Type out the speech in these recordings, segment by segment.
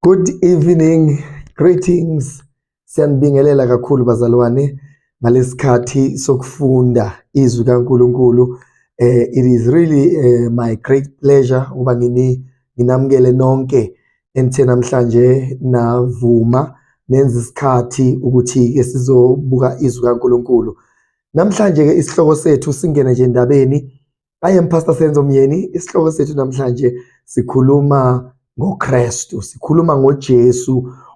Good evening, greetings. Siyanibingelela kakhulu bazalwane ngalesikhathi sokufunda izwi kaNkuluNkulu. Eh it is really uh, my great pleasure uba ngini nginamukele nonke enithe namhlanje navuma nenza isikhathi ukuthi ke sizobuka izwi kaNkuluNkulu. Namhlanje ke isihloko sethu singene nje endabeni I am Pastor Senzo Myeni. Isihloko sethu namhlanje sikhuluma ngoKristu, sikhuluma ngoJesu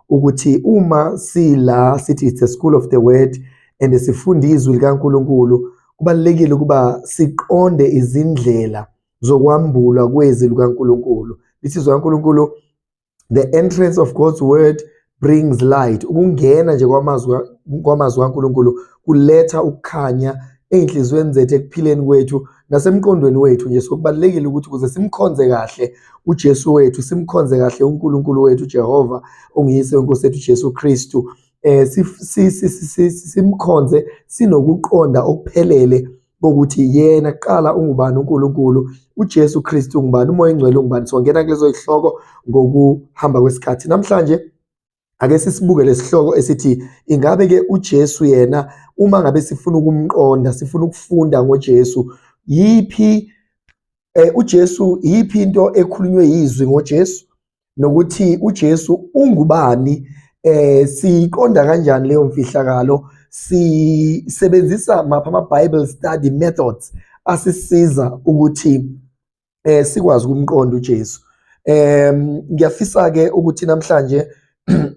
ukuthi uma sila sithi it's a school of the word and sifunda izwi likaNkuluNkulu, kubalekile ukuba siqonde izindlela zokwambulwa kwezi lukaNkuluNkulu. Lithi izwi likaNkuluNkulu the entrance of God's word brings light ukungena nje kwamazwi kwamazwi kaNkuluNkulu kuletha ukukhanya ezinhlizweni zethu ekuphileni kwethu nasemqondweni wethu nje sokubalekile ukuthi kuze simkhonze kahle uJesu wethu simkhonze kahle uNkulunkulu wethu Jehova ongiyise wenkosi yethu Jesu Kristu eh simkhonze sinokuqonda okuphelele bokuthi yena kuqala ungubani uNkulunkulu uJesu Kristu ungubani umoya engcwele ungubani songena kulezo zihloko ngokuhamba kwesikhathi namhlanje ake sisibuke lesihloko esithi ingabe ke uJesu yena uma ngabe sifuna ukumqonda sifuna ukufunda ngoJesu yiphi eh, uJesu yiphi into ekhulunywe yizwi ngoJesu nokuthi uJesu ungubani eh siqonda kanjani leyo mfihlakalo sisebenzisa mapha ama Bible study methods asisiza ukuthi eh sikwazi ukumqonda uJesu em ngiyafisa ke ukuthi namhlanje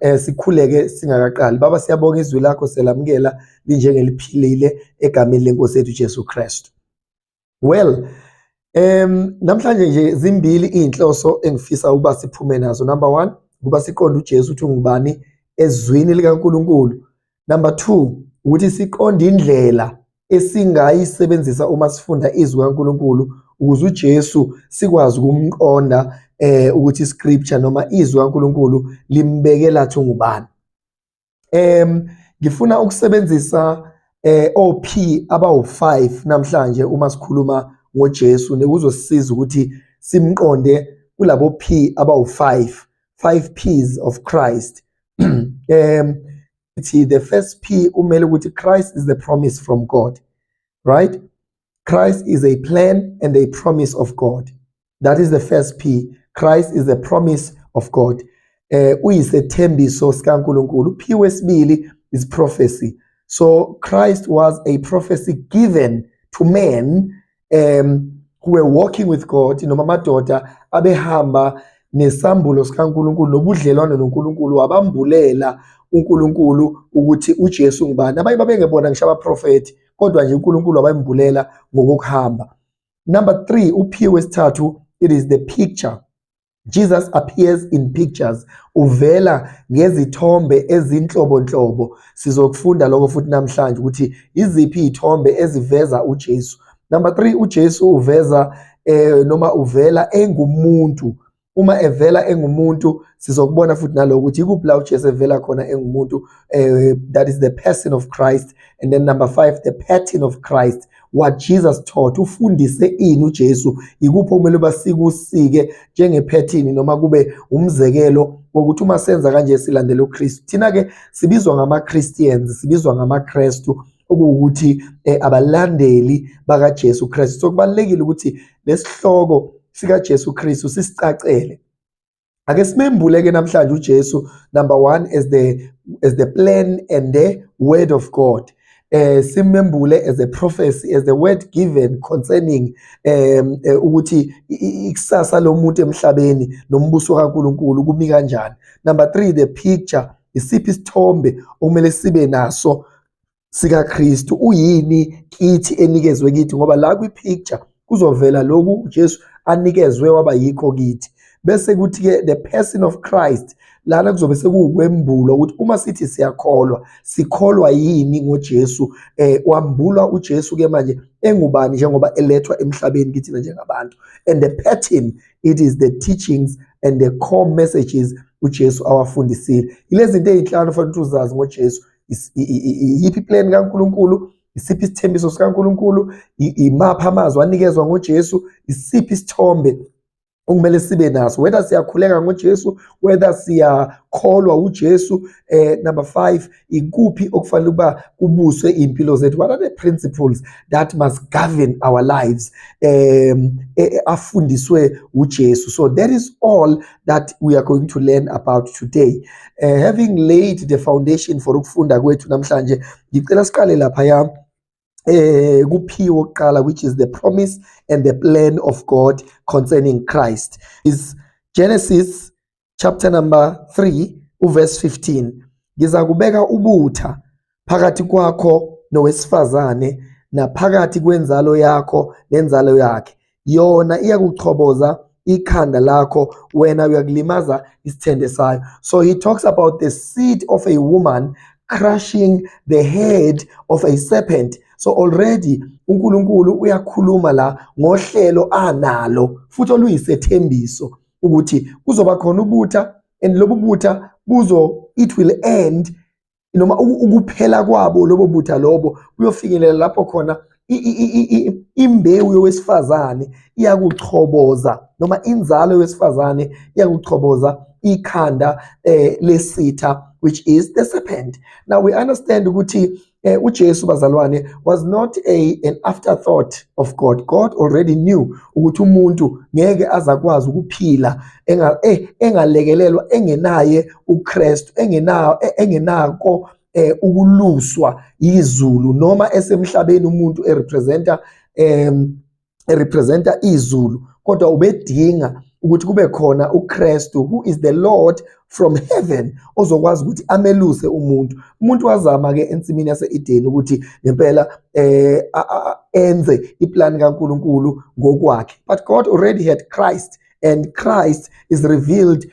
eh sikhuleke singakaqali baba siyabonga izwi lakho selamukela linjengeliphilile egameni lenkosi yethu Jesu Kristu well um namhlanje nje zimbili iy'nhloso engifisa ukuba siphume nazo number one ukuba siqonde ujesu ukuthi ungubani ezwini likankulunkulu number two ukuthi siqonde indlela esingayisebenzisa uma sifunda izwi kaNkuluNkulu ukuze uJesu sikwazi ukumqonda eh ukuthi scripture noma izwi kaNkuluNkulu limbekela thungubani em ngifuna ukusebenzisa eh OP abawu5 namhlanje uma sikhuluma ngoJesu nekuzosisiza ukuthi simqonde kulabo P abawu5 5 P's of Christ em ithi the first P umele ukuthi Christ is the promise from God right Christ is a plan and a promise of God that is the first p christ is the promise of god eh uyisethembiso sikaNkuluNkulu p wesibili is prophecy so christ was a prophecy given to men um who were walking with god noma amadoda abehamba nesambulo sikaNkuluNkulu nobudlelwane noNkuluNkulu wabambulela uNkulunkulu ukuthi uJesu ngubani abanye babengebona ngisho abaprofethi kodwa nje uNkulunkulu wabayimbulela ngokuhamba Number 3 uphiwe wesithathu it is the picture. Jesus appears in pictures. Uvela ngezithombe ezinhlobonhlobo. Sizokufunda lokho futhi namhlanje ukuthi iziphi izithombe eziveza uJesu. Number 3 uJesu uveza eh noma uvela engumuntu uma evela engumuntu sizokubona futhi naloko ukuthi ikuphi la uJesu evela khona engumuntu uh, that is the person of Christ and then number 5 the pattern of Christ what Jesus taught ufundise ini uJesu ikuphi okumele basikusike njengephethini noma kube umzekelo wokuthi uma senza kanje silandela uKristu thina ke sibizwa ngama Christians sibizwa ngama Kristu okuwukuthi eh, abalandeli bakaJesu Kristu. So kubalekile ukuthi lesihloko sikaJesu Kristu sisicacele. Ake simembule ke namhlanje uJesu number 1 as the as the plan and the word of God. eh simembule as a prophecy as the word given concerning um eh, ukuthi ikusasa lomuntu emhlabeni nombuso kaNkuluNkulu kumi kanjani number 3 the picture isiphi isithombe okumele sibe naso sikaKristu uyini kithi enikezwe kithi ngoba la kwi-picture kuzovela lokhu uJesu anikezwe waba yikho kithi bese kuthi-ke the person of Christ lana kuzobe sekuwukwembulwa ukuthi uma sithi siyakholwa sikholwa yini ngoJesu eh wambulwa uJesu ke manje engubani njengoba elethwa emhlabeni kithina njengabantu and the pattern it is the teachings and the core messages uJesu awafundisile yilezinto ezinhlanu fanele uzazi ngoJesu iyiphi plan kaNkuluNkulu isiphi isithembiso sikaNkuluNkulu imapha amazwi anikezwa ngoJesu isiphi isithombe okumele sibe naso whether siyakhuleka ngoJesu whether siyakholwa uJesu eh number 5 ikuphi okufanele ukuba kubuswe impilo zethu what are the principles that must govern our lives um afundiswe uJesu so that is all that we are going to learn about today uh, having laid the foundation for ukufunda kwethu namhlanje ngicela siqale lapha ya eh kuphiwe oqala which is the promise and the plan of God concerning Christ is Genesis chapter number 3 uverse 15 ngizakubeka ubutha phakathi kwakho nowesifazane naphakathi kwenzalo yakho nenzalo yakhe yona iyakuchoboza ikhanda lakho wena uyakulimaza isithende sayo so he talks about the seed of a woman crushing the head of a serpent so already uNkulunkulu uyakhuluma la ngohlelo analo futhi oluyisethembiso ukuthi kuzoba khona ubutha and lobu butha buzo it will end noma ukuphela kwabo lobo butha lobo kuyofinyelela lapho khona imbewu yowesifazane iyakuchoboza noma inzalo yowesifazane iyakuchoboza ikhanda eh, lesitha which is the serpent now we understand ukuthi eh, uJesu bazalwane was not a an afterthought of God God already knew ukuthi umuntu ngeke azakwazi ukuphila enga eh, engalekelelwa engenaye uKristu engenawo e, engenako eh ukuluswa izulu noma esemhlabeni umuntu erepresenta em erepresenta izulu kodwa ubedinga ukuthi kube khona uKristu who is the Lord from heaven ozokwazi ukuthi ameluse umuntu umuntu wazama ke ensimini yaseEden ukuthi ngempela eh enze iplan kaNkuluNkulu ngokwakhe but God already had Christ and Christ is revealed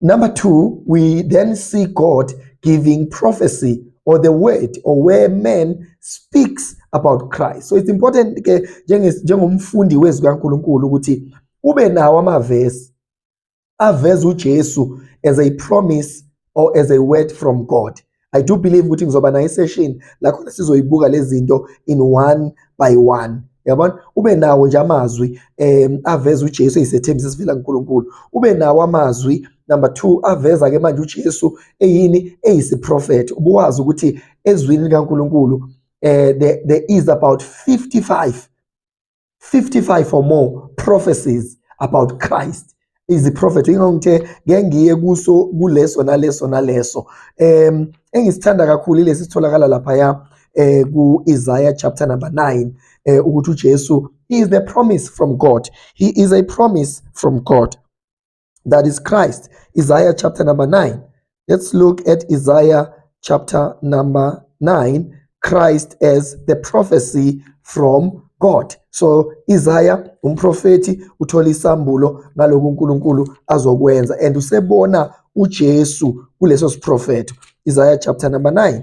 Number two, we then see God giving prophecy or the word or where man speaks about Christ. So it's important ke njengomfundi wezwi kaNkuluNkulu ukuthi ube nawo amavesi aveza uJesu as a promise or as a word from God. I do believe ukuthi ngizoba nayo isession la khona sizoyibuka lezinto in one by one yabona ube nawo nje amazwi um aveza uJesu eyisethembiso esivela kuNkulunkulu ube nawo amazwi number 2 aveza ke manje uJesu eyini eyisiprofethi ubuwazi ukuthi ezwini likaNkulunkulu eh there, there is about 55 55 or more prophecies about Christ iziprofetho ingakho ngithe ngeke ngiye kuso kuleso naleso naleso um engisithanda kakhulu ilesi sitholakala laphaya eh ku-Isaiah chapter number 9 eh ukuthi uJesu is the promise from God he is a promise from God that is Christ. Isaiah chapter number 9. Let's look at Isaiah chapter number 9, Christ as the prophecy from God. So Isaiah umprofeti uthola isambulo ngaloku uNkulunkulu azokwenza and usebona uJesu kuleso siprofeto. Isaiah chapter number 9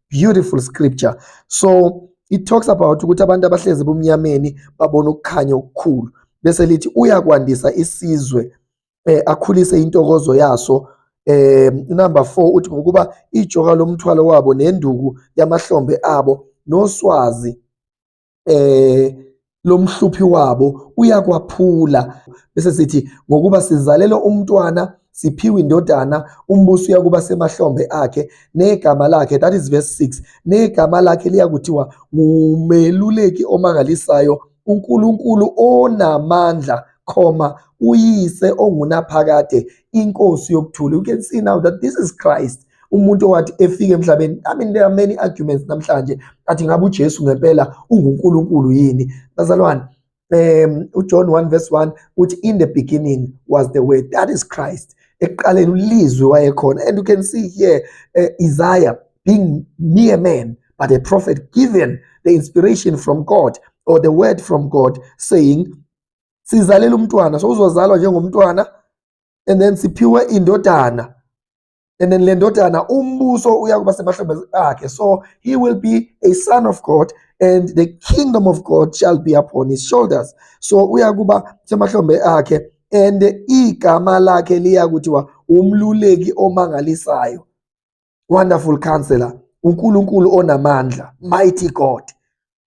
beautiful scripture so it talks about ukuthi abantu abahlezi bomnyameni babona ukukhanya okukhulu bese lithi uyakwandisa isizwe eh, akhulise intokozo yaso eh number 4 uthi ngokuba ijoka lomthwalo wabo nenduku yamahlombe abo noswazi eh lomhluphi wabo uyakwaphula bese sithi ngokuba sizalelwe umntwana siphiwe indodana umbuso uyakuba semahlombe akhe negama lakhe that is verse 6 negama lakhe liyakuthiwa ngumeluleki omangalisayo uNkulunkulu onamandla comma uyise ongunaphakade inkosi yokuthula you can see now that this is Christ umuntu owathi efike emhlabeni i mean there are many arguments namhlanje athi ngabe uJesu ngempela unguNkulunkulu yini bazalwane um uJohn 1 verse 1 uthi in the beginning was the word that is Christ ekuqaleni ulizwe wayekhona and you can see here uh, Isaiah being mere man but a prophet given the inspiration from God or the word from God saying sizalela umntwana so uzozalwa njengomntwana and then siphiwe indodana and then le ndodana umbuso uyakuba semahlombe akhe so he will be a son of god and the kingdom of god shall be upon his shoulders so uyakuba semahlombe akhe and igama lakhe liya kuthiwa umluleki omangalisayo wonderful counselor uNkulunkulu onamandla mighty God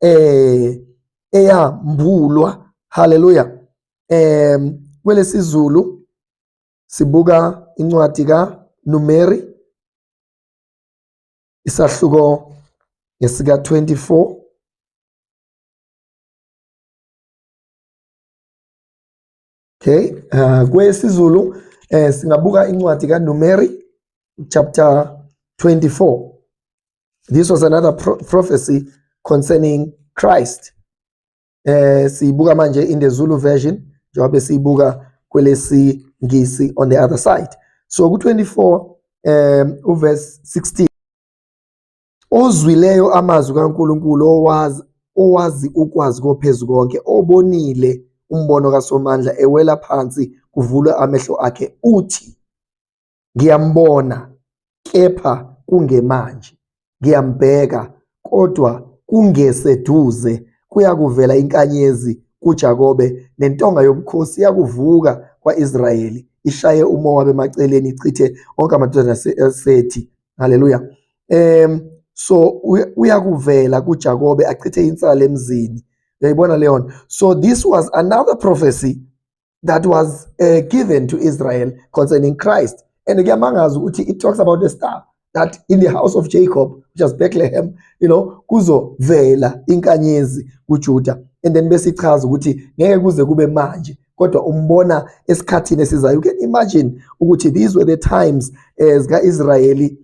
eh eyambulwa haleluya em kwelesizulu sibuka incwadi ka Numeri isahluko ngesika 24 Numeri Okay, uh, kwesiZulu eh singabuka incwadi kaNumeri chapter 24. This was another pro prophecy concerning Christ. Eh sibuka manje in the Zulu version njengoba sibuka kwelesi ngisi on the other side. So ku 24 um uverse 16 Ozwileyo amazwi kaNkulunkulu owazi owazi ukwazi kophezu konke obonile umbono kaSomandla ewela phansi kuvulwe amehlo akhe uthi ngiyambona kepha kungemanje ngiyambheka kodwa kungeseduze kuyakuvela inkanyezi kuJakobe nentonga yobukhosi yakuvuka kwaIsrayeli ishaye umowa bemaceleni ichithe onke amadodana asethi haleluya um so uyakuvela kuJakobe achithe insala emzini uyayibona leyo nto so this was another prophecy that was uh, given to Israel concerning Christ and kuyamangaza ukuthi it talks about a star that in the house of Jacob which is Bethlehem you know kuzovela inkanyezi kuJuda and then besichaza ukuthi ngeke kuze kube manje kodwa umbona esikhathini esizayo you can imagine ukuthi these were the times eh, zika Israeli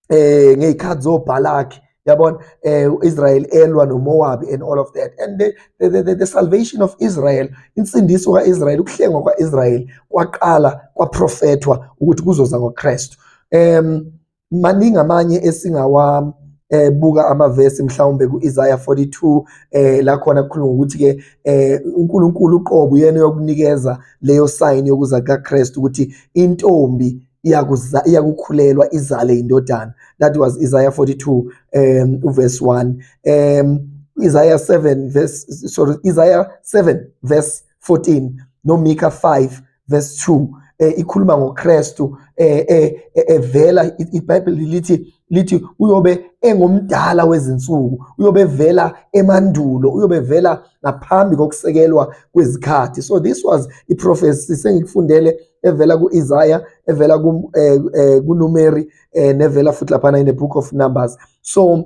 eh ngezikhathi zoBalak yabona eh Israel elwa noMoab and all of that and the, the, the, the, the salvation of Israel insindiso kaIsrael ukuhlengwa kwaIsrael kwaqala kwaprofethwa ukuthi kuzoza ngoKristu um maningi amanye esingawa eh buka amavesi mhlawumbe kuIsaiah 42 eh la khona kukhuluma ukuthi ke eh uNkulunkulu uqobo uyena yokunikeza leyo sign yokuza kukaKristu ukuthi intombi iyakuza iyakukhulelwa izale indodana that was Isaiah 42 um uverse 1 um Isaiah 7 verse sorry Isaiah 7 verse 14 noMika 5 verse 2 eh, ikhuluma ngoKristu eh, eh, eh, evela iBhayibheli lithi lithi uyobe engomdala wezinsuku uyobe evela emandulo uyobe evela ngaphambi kokusekelwa kwezikhathi so this was i prophecy sengikufundele evela kuIsaiah evela ku eh, eh, kuNumeri eh, nevela futhi lapha in the book of Numbers so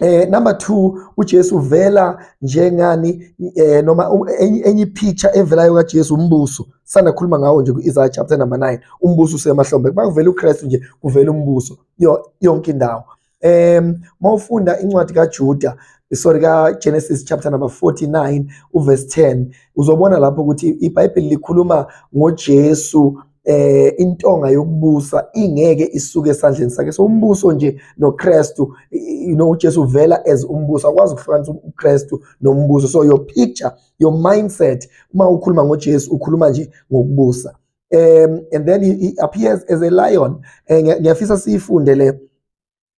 Eh number 2 uJesu uvela njengani eh noma enye ipicture evelayo kaJesu umbuso sana khuluma ngawo nje kuIsaiah chapter number 9 umbuso usemahlombe bakuvela uKristu nje kuvela umbuso yonke indawo em mawufunda incwadi kaJuda sorry ka Genesis chapter number 49 uverse 10 uzobona lapho ukuthi iBhayibheli likhuluma ngoJesu eh intonga yokubusa ingeke isuke esandleni sakhe so umbuso nje noKristu you know uJesu uvela as umbuso akwazi ukuhlukanisa uKristu nombuso so your picture your mindset uma ukhuluma ngoJesu ukhuluma nje ngokubusa um and then he, he appears as a lion eh, ngiyafisa siyifunde le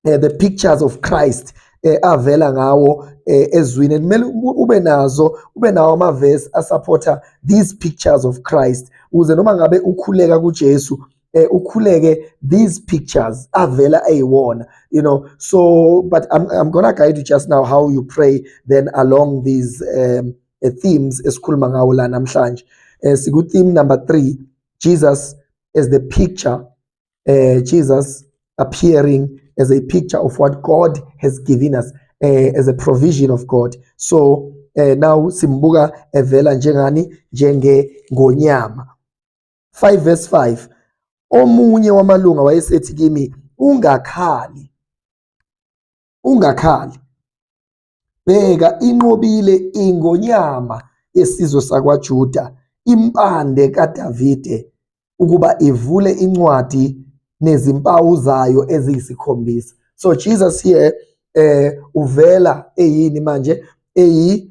eh, the pictures of Christ eh, avela ngawo eh, ezwini kumele ube nazo ube nawo amavesi asupporter these pictures of Christ ukuze noma ngabe ukhuleka kuJesu eh, ukhuleke these pictures avela eyiwona you know so but I'm, I'm gonna guide you just now how you pray then along these um, uh, themes esikhuluma ngawo la namhlanje eh, siku theme number 3 Jesus is the picture uh, Jesus appearing as a picture of what God has given us uh, as a provision of God so uh, now simbuka evela njengani njenge ngonyama 5 verse 5 omunye wamalunga wayesethi kimi ungakhali ungakhali Bheka, inqobile ingonyama yesizwe sakwaJuda, impande kaDavide, ukuba ivule incwadi nezimpawu zayo eziyisikhombisa. So Jesus here eh uvela eyini manje eyi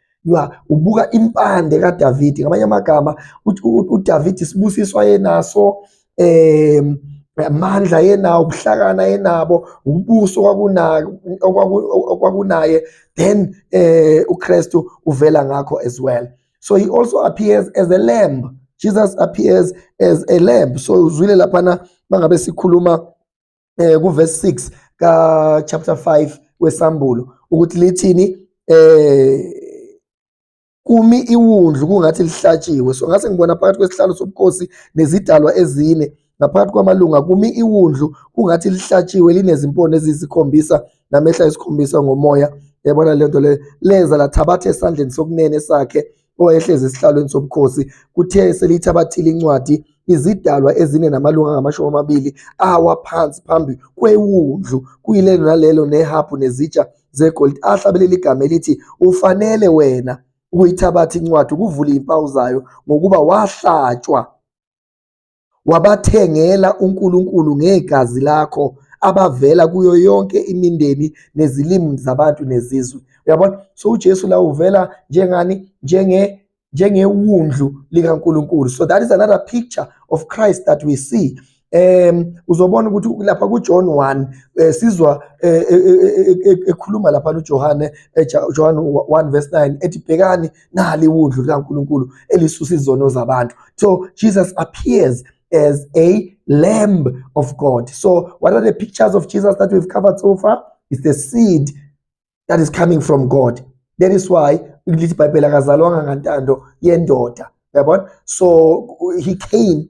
you are ubuka impande kaDavidi ngamanye amagama uDavidi sibusiso ayenaso eh amandla yenawo ubuhlakana yenabo ubuso kwakunaye okwakunaye then eh uKristu uvela ngakho as well so he also appears as a lamb Jesus appears as a lamb so uzwile lapha na mangabe sikhuluma eh kuverse 6 ka chapter 5 wesambulo ukuthi lithini eh kumi iwundlu kungathi lihlatshiwe so ngase ngibona phakathi kwesihlalo sobukhosi nezidalwa ezine ngaphakathi kwamalunga kumi iwundlu kungathi lihlatshiwe linezimpondo eziyisikhombisa namehla esikhombisa ngomoya yabona lento le leza lathabatha esandleni sokunene sakhe owayehlezi esihlalweni sobukhosi kuthe selithabathile incwadi izidalwa ezine namalunga angamashumi amabili awa phansi phambi kwewundlu kuyilelo nalelo nehabhu nezitsha zegolide ahlabelela igama elithi ufanele wena ukuyithabatha incwadi ukuvula izimpawu zayo ngokuba wahlatshwa Wabathengela uNkulunkulu ngegazi lakho abavela kuyo yonke imindeni nezilimi zabantu nezizwe. Uyabona? So uJesu la uvela njengani? Njenge njengewundlu likaNkulunkulu. So that is another picture of Christ that we see. um uzobona ukuthi lapha kuJohn 1 eh, sizwa eh, eh, ekhuluma lapha uJohane John 1 verse 9 ethi bhekani nali wundlu likaNkulunkulu elisusa izono zabantu so Jesus appears as a lamb of God so what are the pictures of Jesus that we've covered so far it's the seed that is coming from God that is why lithi ibhayibheli akazalwanga ngantando yendoda yabona so he came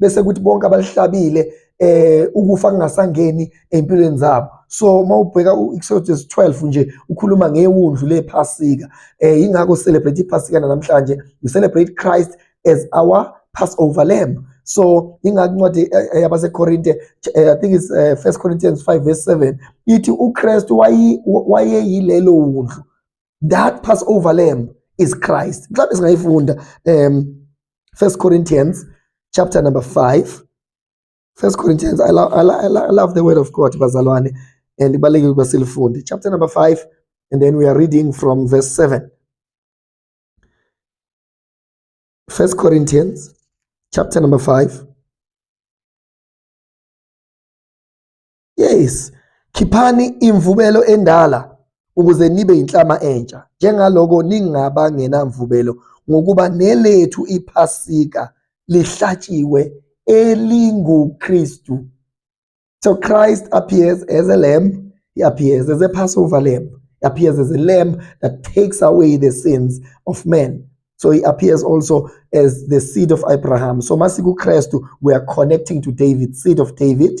bese kuthi bonke abalihlabile eh ukufa kungasangeni empilweni zabo so uma ubheka u-Exodus 12 nje ukhuluma ngewundlu lephasika eh ingakho celebrate iphasika namhlanje we celebrate Christ as our Passover lamb so ingakuncwadi eh, eh, yabasekorinte eh, i think it's uh, first corinthians 5 verse 7 ithi ukristu wayeyilelo wundlu that passover lamb is christ mhlawumbe singayifunda um first corinthians chapter number 5 first corinthians I, lo I, lo I, lo I love the word of god bazalwane and ibalulekile ukuba silifunde chapter number 5 and then we are reading from verse 7 first corinthians chapter number 5 Yes, khiphani imvubelo endala ukuze nibe yinhlama entsha, njengaloko ningaba ngenamvubelo, ngokuba nelethu iPhasika lihlatshiwe elinguKristu. So Christ appears as a lamb, he appears as a Passover lamb, he appears as a lamb that takes away the sins of men. So he appears also as the seed of Abraham. So masiku Christu, we are connecting to David, seed of David.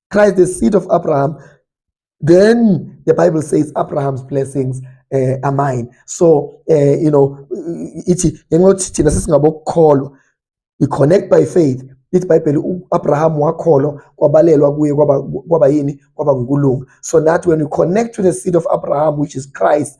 Christ, the seed of Abraham, then the Bible says Abraham's blessings uh, are mine. So, uh, you know, ithi ngengothi thina sesingabokukholwa we connect by faith lithi ibhayibheli u-abraham wakholwa kwabalelwa kuye kwaba yini kwaba ngukulunga so that when we connect to the seed of abraham which is christ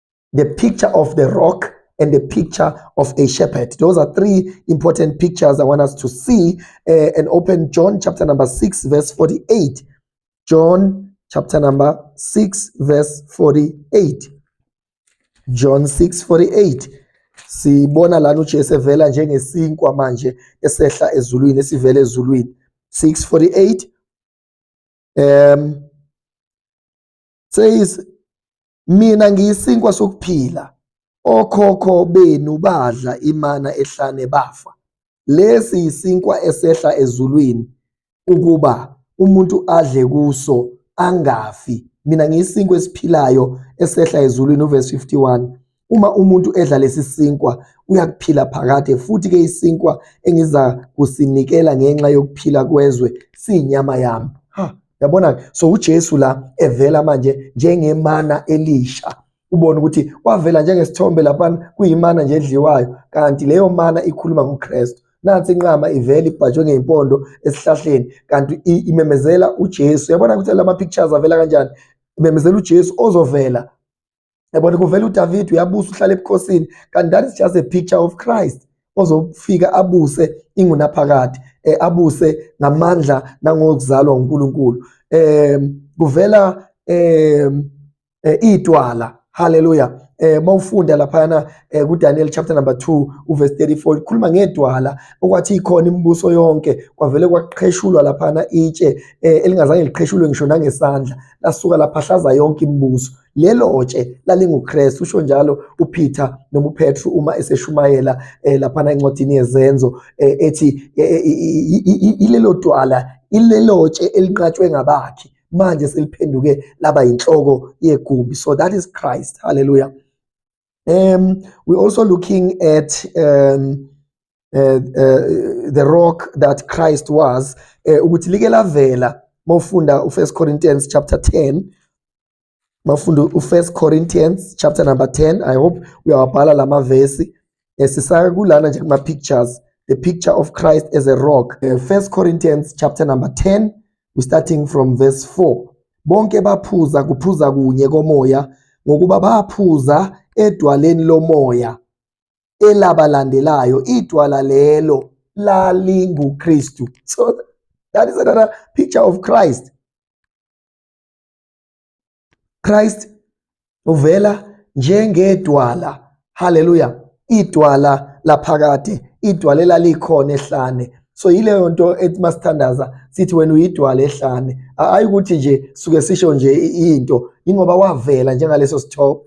the picture of the rock and the picture of a shepherd. Those are three important pictures I want us to see uh, and open John chapter number 6 verse 48. John chapter number 6 verse 48. John 6 48. Sibona lana uJesu evela njengesinkwa manje esehla ezulwini esivela ezulwini. 648 um says mina ngiyisinkwa sokuphila okhokho benu badla imana ehlane bafa lesi yisinkwa esehla ezulwini ukuba umuntu adle kuso angafi mina ngiyisinkwa esiphilayo esehla ezulwini uverse 51 Uma umuntu edla lesi sinkwa uyakuphila phakade futhi ke isinkwa engiza kusinikela ngenxa yokuphila kwezwe siyinyama yami. Ha, yabona so uJesu la evela manje njengemana elisha. Ubona ukuthi wavela njengesithombe lapha kuyimana nje edliwayo kanti leyo mana ikhuluma ngoKristu. nansi inqama ivela ibhajwe ngeyimpondo esihlahleni kanti imemezela uJesu yabona ukuthi lama pictures avela kanjani imemezela uJesu ozovela yabona kuvela uDavid uyabusa uhlala ebukhosini kanti that is just a picture of Christ ozofika abuse ingunaphakade eh, abuse ngamandla nangokuzalwa uNkulunkulu eh kuvela eh idwala haleluya eh mawufunda lapha na eh, ku Daniel chapter number 2 uverse 34 ikhuluma ngedwala okwathi ikhona imibuso yonke kwavele kwaqheshulwa lapha na itshe eh, elingazange liqheshulwe ngisho nangesandla lasuka lapha hlaza yonke imibuso lelo tshe lalinguKristu usho njalo uPeter noma uPetru uma eseshumayela eh, laphana encwadini yezenzo eh, ethi eh, eh, i- i- i- ilelo twala ilelo tshe elinqatshwe ngabakhi manje seliphenduke laba yinhloko yegumbi so that is Christ hallelujah um we're also looking at um uh, uh, the rock that Christ was eh, ukuthi like lavela mawufunda u1 Corinthians chapter 10 bafunde u-first corinthians chapter number 10 i hope uyawabhala la mavesi um sisaka kulana nje kuma-pictures the picture of christ as a rock um first corinthians chapter number 10 we starting from verse 4 bonke baphuza kuphuza kunye komoya ngokuba baphuza edwaleni lomoya elabalandelayo idwala lelo lalinguKristu so that is another picture of Christ Christ uvela njengedwala haleluya idwala laphakade idwala elalikhona ehlane so yileyo nto ethi masithandaza sithi wena uyidwala ehlane hayi ukuthi nje suke sisho nje into ingoba wavela njengaleso sithombe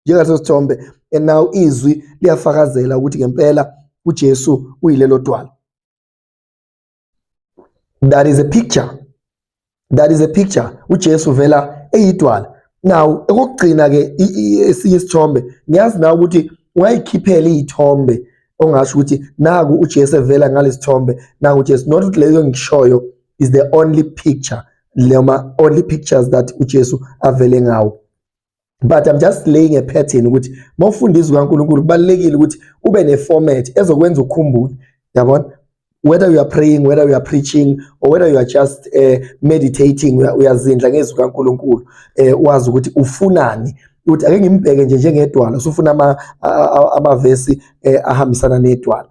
njengaleso sithombe and now izwi liyafakazela ukuthi ngempela uJesu uyilelo dwala that is a picture that is a picture uJesu vela eyidwala now okugcina ke esinye isithombe ngiyazi na ukuthi ungayikhiphela izithombe ongasho ukuthi naku uJesu evela ngalesithombe naku uJesu not ukuthi leyo ngishoyo is the only picture lema only pictures that uJesu avele ngawo but i'm just laying a pattern ukuthi mawufundisa uNkulunkulu kubalekile ukuthi ube ne format ezokwenza ukukhumbule yabona whether you are praying whether you are preaching or whether you are just uh, meditating uyazindla ngezwi kaNkuluNkulu eh wazi ukuthi ufunani ukuthi ake ngimbheke nje njengedwala usufuna ama amavesi eh, ahambisana nedwala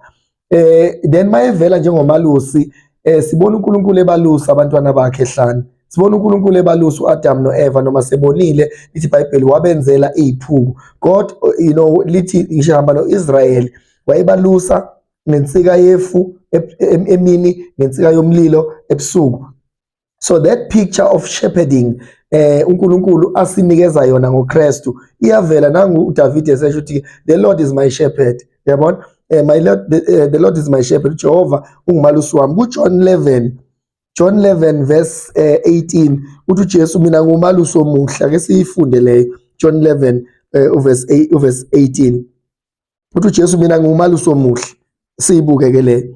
eh then mayevela njengomalusi eh sibona uNkulunkulu ebalusa abantwana bakhe hlani sibona uNkulunkulu ebalusa uAdam noEva noma sebonile lithi iBhayibheli wabenzela iziphuku God you know lithi ngisho hamba noIsrael wayebalusa ngensika yefu emini ngensika yomlilo ebusuku so that picture of shepherding eh uNkulunkulu asinikeza yona ngoKristu iyavela nangu uDavid esesho ukuthi the Lord is my shepherd yabona eh, my Lord the, eh, the Lord is my shepherd Jehova ungumalusi wami kuJohn 11 John 11 verse eh, 18 uthi uJesu mina ngumalusi omuhle ake siyifunde leyo John 11 eh, uverse 8 uverse 18 uthi uJesu mina ngumalusi omuhle siyibuke ke leyo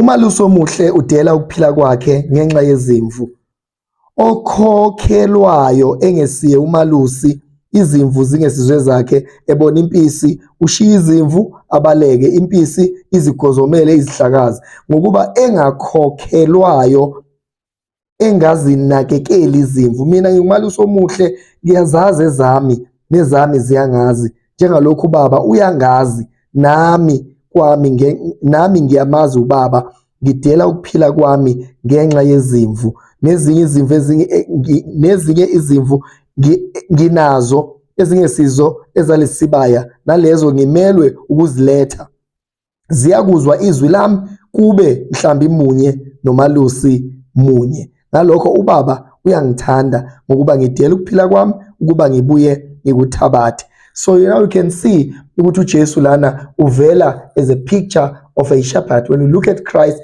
Umalusi omuhle udela ukuphila kwakhe ngenxa yezimvu. Okhokhelwayo engesiye umalusi izimvu zingesizwe zakhe ebona impisi ushiya izimvu abaleke impisi izigozomele izihlakazi ngokuba engakhokhelwayo engazinakekeli izimvu mina ngingumalusi omuhle ngiyazazi ezami nezami ziyangazi njengalokhu ubaba uyangazi nami kwami nami ngiyamazi ubaba ngidela ukuphila kwami ngenxa yezimvu nezinye izimvu ezinye eh, nezinye izimvu nginazo ezingesizo ezalesibaya nalezo ngimelwe ukuziletha ziyakuzwa izwi lami kube mhlambi munye nomalusi munye ngalokho ubaba uyangithanda ngokuba ngidela ukuphila kwami ukuba ngibuye ngikuthabathe so you know you can see ukuthi uJesu lana uvela as a picture of a shepherd when you look at Christ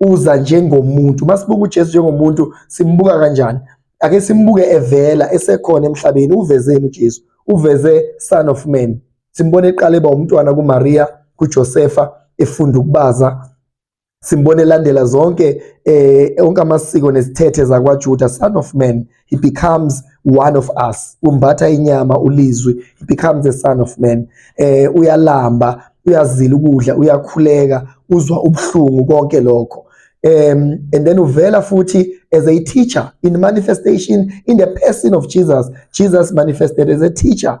uza njengomuntu masibuka uJesu njengomuntu simbuka kanjani ake simbuke evela esekhona emhlabeni uvezeni uJesu uveze son of man simbone eqala eba umntwana kuMaria kuJosefa efunda ukubaza simbone elandela zonke eh onke amasiko nezithethe zakwaJuda son of man he becomes one of us umbatha inyama ulizwi he becomes a son of man eh uyalamba uyazila ukudla uyakhuleka uzwa ubuhlungu konke lokho um and then uvela futhi as a teacher in manifestation in the person of Jesus Jesus manifested as a teacher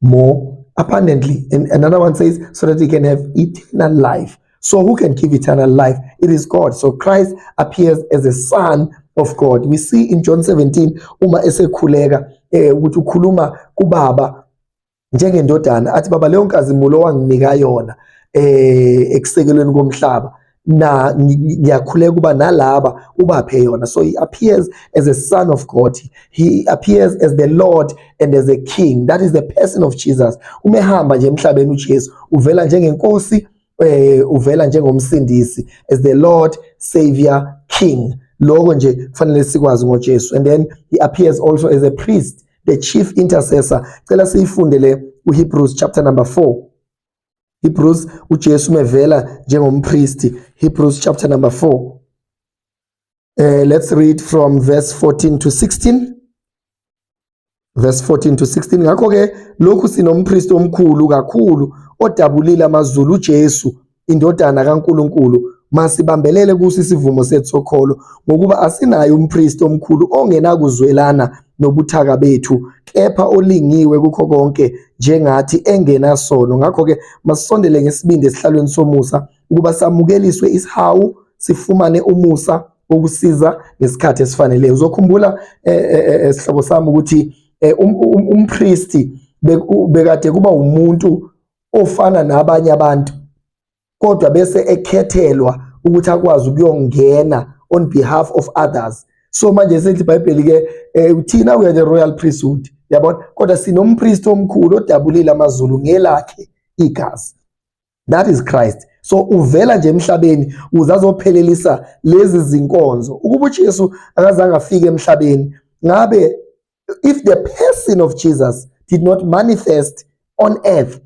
more abundantly. And another one says, so that he can have eternal life. So who can give eternal life? It is God. So Christ appears as a son of God. We see in John 17, uma esekhuleka, eh, ukuthi ukhuluma kubaba njengendodana athi baba leyo nkazimulo wanginika yona eh ekusekelweni komhlaba na ngiyakhuleka ukuba nalaba ubaphe yona so he appears as a son of God he appears as the Lord and as a king that is the person of Jesus uma ehamba nje emhlabeni uJesu uvela njengenkosi eh uvela njengomsindisi as the Lord savior king lokho nje kufanele sikwazi ngoJesu and then he appears also as a priest the chief intercessor cela siyifunde le uHebrews chapter number 4 Hebrews uJesu mevela njengompristi Hebrews chapter number 4 uh, eh, let's read from verse 14 to 16 verse 14 to 16 ngakho ke lokhu sinompristi omkhulu kakhulu odabulile amazulu uJesu indodana kaNkuluNkulu masibambelele kuso isivumo sethu sokholo ngokuba asinayo umpristi omkhulu ongenakuzwelana nobuthaka bethu kepha olingiwe kukho konke njengathi engenasono ngakho-ke masisondele ngesibindi esihlalweni somusa ukuba samukeliswe isihawu sifumane umusa wokusiza ngesikhathi esifaneleyo uzokhumbula eh, eh, eh, eh sihlobo sami ukuthi eh, um, um, umpristi bekade kuba umuntu ofana nabanye abantu kodwa bese ekhethelwa ukuthi akwazi ukuyongena on behalf of others so manje sithi iBhayibheli ke eh, uthina we are the royal priesthood yabona kodwa sinompriest omkhulu odabulile amazulu ngelakhe igazi that is Christ so uvela nje emhlabeni uze azophelelisa lezi zinkonzo ukuba uJesu akazange afike emhlabeni ngabe if the person of Jesus did not manifest on earth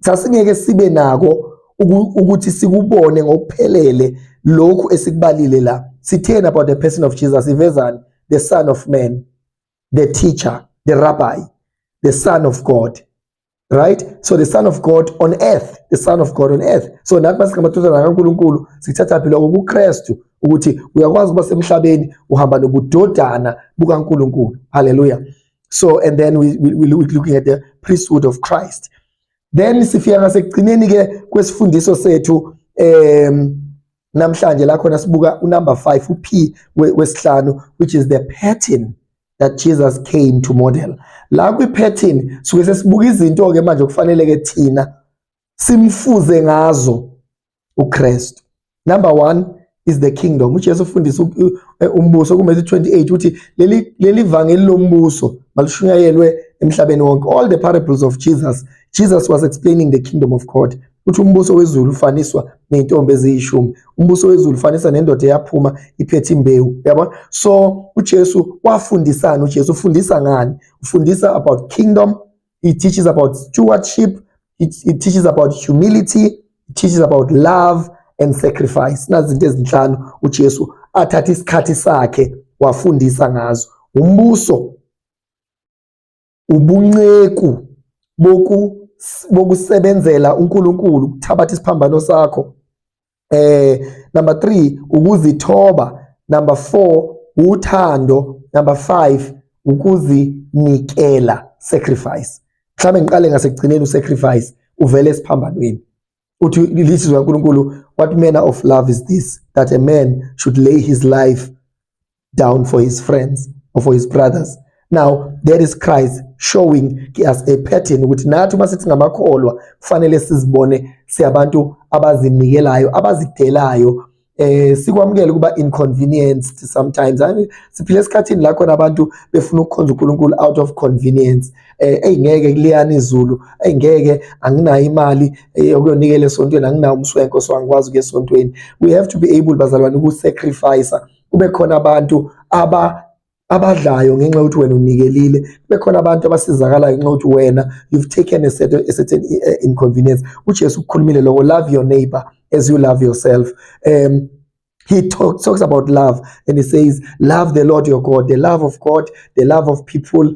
sasingeke sibe nako ukuthi sikubone ngokuphelele lokhu esikubalile la sitheni about the person of Jesus ivezani the son of man the teacher the rabbi the son of God right so the son of god on earth the son of god on earth so nathi masingamathuzana kaNkuluNkulu sithatha phela kuKristu ukuthi uyakwazi ukuba semhlabeni uhamba nobudodana bukaNkuluNkulu haleluya so and then we, we, we looking at the priesthood of Christ then sifika ngasekugcineni ke kwesifundiso sethu um namhlanje la khona sibuka unumber 5 uP wesihlanu which is the pattern that Jesus came to model la kwiphethini suke sesibuka izinto ke manje kufanele ke thina simfuze ngazo uKristu number 1 is the kingdom uJesu ufundisa e, umbuso kuMatthew 28 uthi leli leli vangeli lombuso malishunyayelwe emhlabeni wonke all the parables of Jesus Jesus was explaining the kingdom of God Uthi umbuso wezulu ufaniswa ney'ntombi eziyishumi umbuso wezulu ufaniswa nendoda eyaphuma iphethe imbewu yabona so ujesu wafundisani ujesu ufundisa ngani ufundisa about kingdom he teaches about stewardship he, he teaches about humility he teaches about love and sacrifice nazi izinto ezinhlanu ujesu athatha isikhathi sakhe wafundisa ngazo umbuso ubunceku boku bokusebenzela uNkulunkulu ukuthabatha isiphambano sakho eh number 3 ukuzithoba number 4 uthando number 5 ukuzinikela sacrifice mhlawumbe ngiqale ngasekugcineni usacrifice uvele esiphambanweni uthi lizwi likaNkulunkulu what manner of love is this that a man should lay his life down for his friends or for his brothers now there is Christ showing us a pattern ukuthi nathi uma sithi ngamakholwa kufanele sizibone siyabantu abazinikelayo abazidelayo eh sikwamukele kuba inconvenienced sometimes hayi siphile esikhathini la khona abantu befuna ukukhonza uNkulunkulu out of convenience eh eyingeke kuliyana izulu eyingeke anginayo imali eh, yokuyonikela esontweni anginawo umswenko so angikwazi ukuya esontweni we have to be able bazalwane uku sacrifice kube khona abantu aba abadlayo ngenxa yokuthi wena unikelile bekhona abantu abasizakalayo ngenxa yokuthi wena you've taken a certain, a certain eh, inconvenience ujesu ukukhulumile loko love your neighbor as you love yourself um he talk, talks about love and he says love the lord your god the love of god the love of people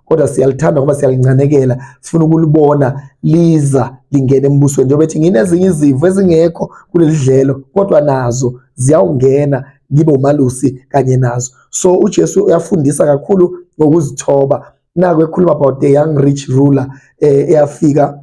kodwa siyalithanda ngoba siyalincanekela sifuna ukulibona liza lingena embusweni njengoba ethi nginezinye izimvu ezingekho kuleli dlelo kodwa nazo ziyawungena ngibe umalusi kanye nazo so uJesu uyafundisa kakhulu ngokuzithoba naku ekhuluma about the young rich ruler eh, eyafika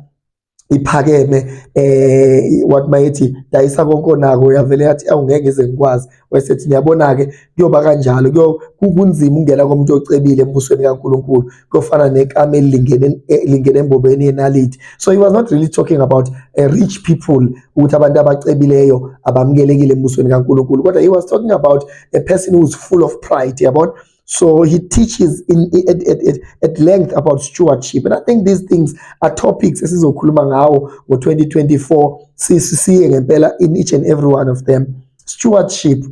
iphakeme eh wathi bayethi dayisa konke onako uyavele yathi awungeke ngize ngikwazi wayesethi ngiyabona ke kuyoba kanjalo kuyo kunzima ungena komuntu ocebile embusweni kaNkuluNkulu kuyofana nekame elingene eh, lingene embobeni yenality so he was not really talking about a eh, rich people ukuthi abantu abacebileyo abamukelekile embusweni kaNkuluNkulu kodwa he was talking about a person who's full of pride yabona So he teaches in, at, at, at, at length about stewardship. And I think these things are topics esizokhuluma ngawo ngo-2024 sisiye ngempela in each and every one of them. Stewardship,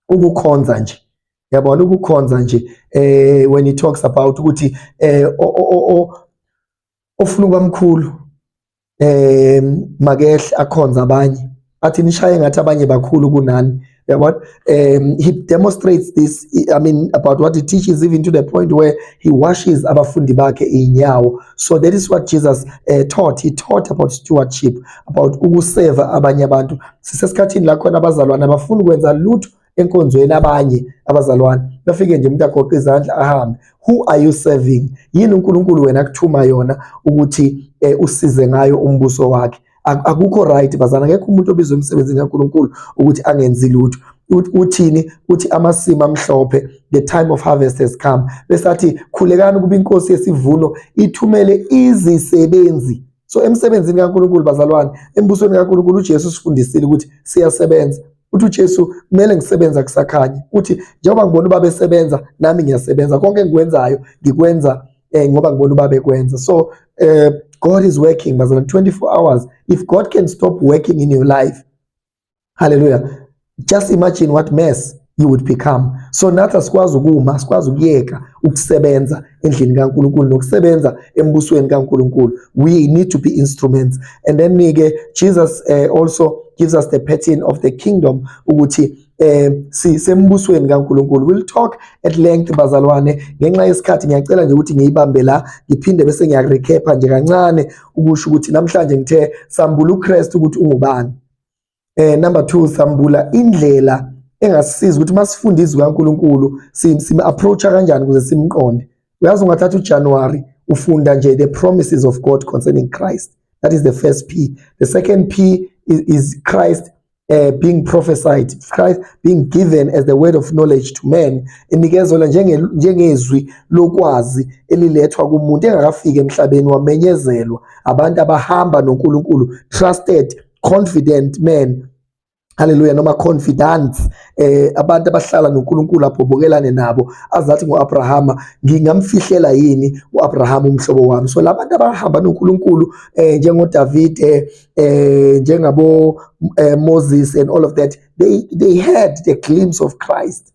ukukhonza nje. Yabona ukukhonza nje eh when he talks about ukuthi eh ofuna kwamkhulu eh makehle akhonza abanye athi nishaye ngathi abanye bakhulu kunani yabona um he demonstrates this i mean about what he teaches even to the point where he washes abafundi bakhe inyawo so that is what jesus uh, taught he taught about stewardship about ukuseva abanye abantu sisesikhathini la khona abazalwane abafuni ukwenza lutho enkonzweni abanye abazalwane bafike nje umuntu agoqe izandla ahambe who are you serving yini uNkulunkulu wena akuthuma yona ukuthi eh, usize ngayo umbuso wakhe akukho right bazana ngeke umuntu obizwe emsebenzini kaNkulunkulu ukuthi angenzi lutho uthini uthi amasimi amhlophe the time of harvest has come besathi khulekani ukuba inkosi yesivuno ithumele izisebenzi so emsebenzini kaNkulunkulu bazalwane embusweni kaNkulunkulu uJesu usifundisile ukuthi siyasebenza uthi uJesu kumele ngisebenza kusakhanye uthi njengoba ngibona ubaba esebenza nami ngiyasebenza konke engikwenzayo ngikwenza eh, ngoba ngibona ubaba ekwenza so eh, God is working bazalwane 24 hours if God can stop working in your life Hallelujah. Just imagine what mess you would become. So nathi asikwazi ukuma, sikwazi ukuyeka ukusebenza endlini kaNkuluNkulu nokusebenza embusweni kaNkuluNkulu. We need to be instruments. And then ke Jesus uh, also gives us the pattern of the kingdom ukuthi eh sisembusweni kaNkuluNkulu we'll talk at length bazalwane ngenxa yesikhathi ngiyacela nje ukuthi ngiyibambe la ngiphinde bese ngiyarecap nje kancane ukusho ukuthi namhlanje ngithe sambula uKristu ukuthi ungubani eh number 2 sambula indlela engasisiza ukuthi masifunde izwi kaNkuluNkulu sime approach kanjani ukuze simqonde uyazi ungathatha uJanuary ufunda nje the promises of God concerning Christ that is the first P the second P is, is Christ uh, being prophesied Christ being given as the word of knowledge to men enikezela njenge njengezwi lokwazi elilethwa kumuntu engakafiki emhlabeni wamenyezelwa abantu abahamba noNkulunkulu trusted confident men haleluya noma confidence eh abantu abahlala noNkulunkulu abhobokelane nabo azathi ngoAbrahama ngingamfihlela yini uAbrahama umhlobo wami so labantu abahamba noNkulunkulu eh njengo David eh, eh njengabo eh, Moses and all of that they they had the glimpse of Christ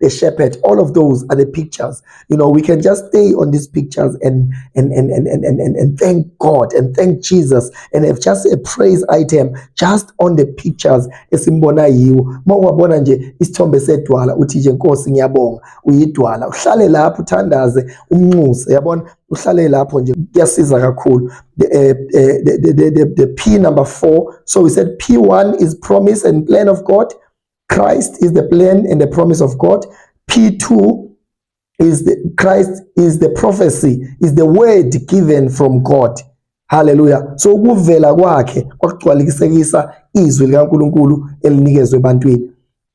the shepherd all of those are the pictures you know we can just stay on these pictures and and and and and, and, and thank god and thank jesus and have just a praise item just on the pictures esimbona yiwo uma uwabona nje isithombe sedwala uthi nje nkosi ngiyabonga uyidwala uhlale lapho uthandaze umnxuse yabona uhlale lapho nje kuyasiza kakhulu the, uh, the, the, the, the p number 4 so we said p1 is promise and plan of god Christ is the plan and the promise of God. P2 is the Christ is the prophecy is the word given from God haleluya so ukuvela kwakhe kwakugcwalikisekisa izwi likaNkuluNkulu elinikezwe ebantwini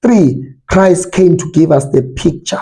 3 Christ came to give us the picture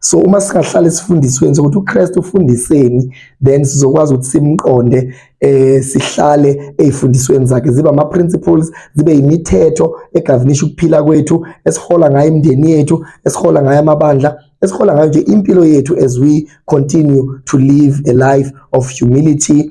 so uma singahlale sifundisweni sokuthi uKristu ufundiseni then sizokwazi ukuthi simqonde eh sihlale ezifundisweni zakhe ziba ama principles zibe imithetho egovernisha ukuphila kwethu esihola ngayo imndeni yethu esihola ngayo amabandla esihola ngayo nje impilo yethu as we continue to live a life of humility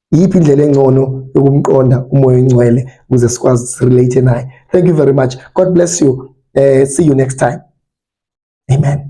iyiphi indlela engcono yokumqonda umoya oyingcwele ukuze sikwazi sirelate naye thank you very much god bless you uh, see you next time amen